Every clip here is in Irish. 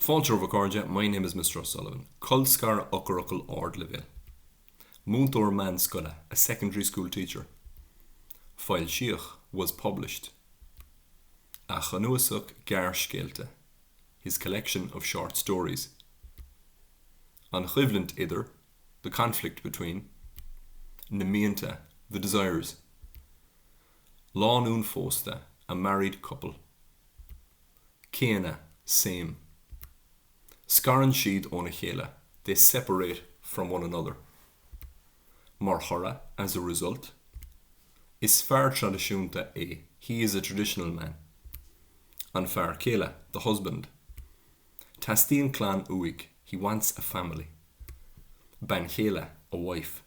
Fáilte romhat a chairde, my name is Mr. O'Sullivan. Colscaradh Eochairfhocail Ardleibhéil. Múinteoir meánscoile, a secondary school teacher. Foilsíodh, was published. A chnuasach gearrscéalta, his collection of short stories. An choimhlint idir, the conflict between. Na mianta, the desires. Lánúin phósta, a married couple. céanna, same. Scarann siad óna chéile, they separate from one another. Mar thoradh, as a result. Is fear traidisiúnta é, he is a traditional man. An fear céile, the husband. Teastaíonn clann uaidh, he wants a family. Bean chéile, a wife.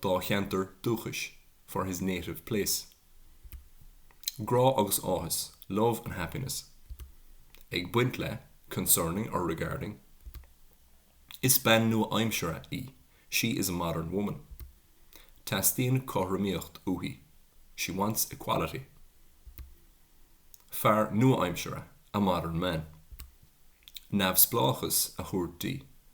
dá cheantar dúchais, for his native place. Grá agus áthas, love and happiness. Ag baint le, concerning or regarding. Is bean nua-aimseartha í, she is a modern woman. Teastaíonn cothromaíocht uaithi, she wants equality. Fear nua-aimseartha, a modern man. Neamhspleáchas a thabhairt di,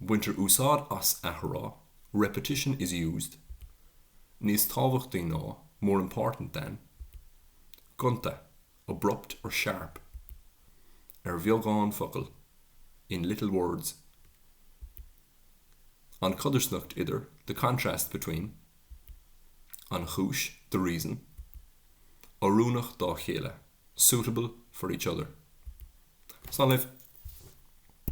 Baintear úsáid as athrá, repetition is used, níos tábhachtaí ná, more important than, gonta, abrupt or sharp, ar bheagán focal, in little words. An chodarsnacht idir, the contrast between. An chúis, the reason. Oiriúnach dá chéile, suitable for each other. Slán libh.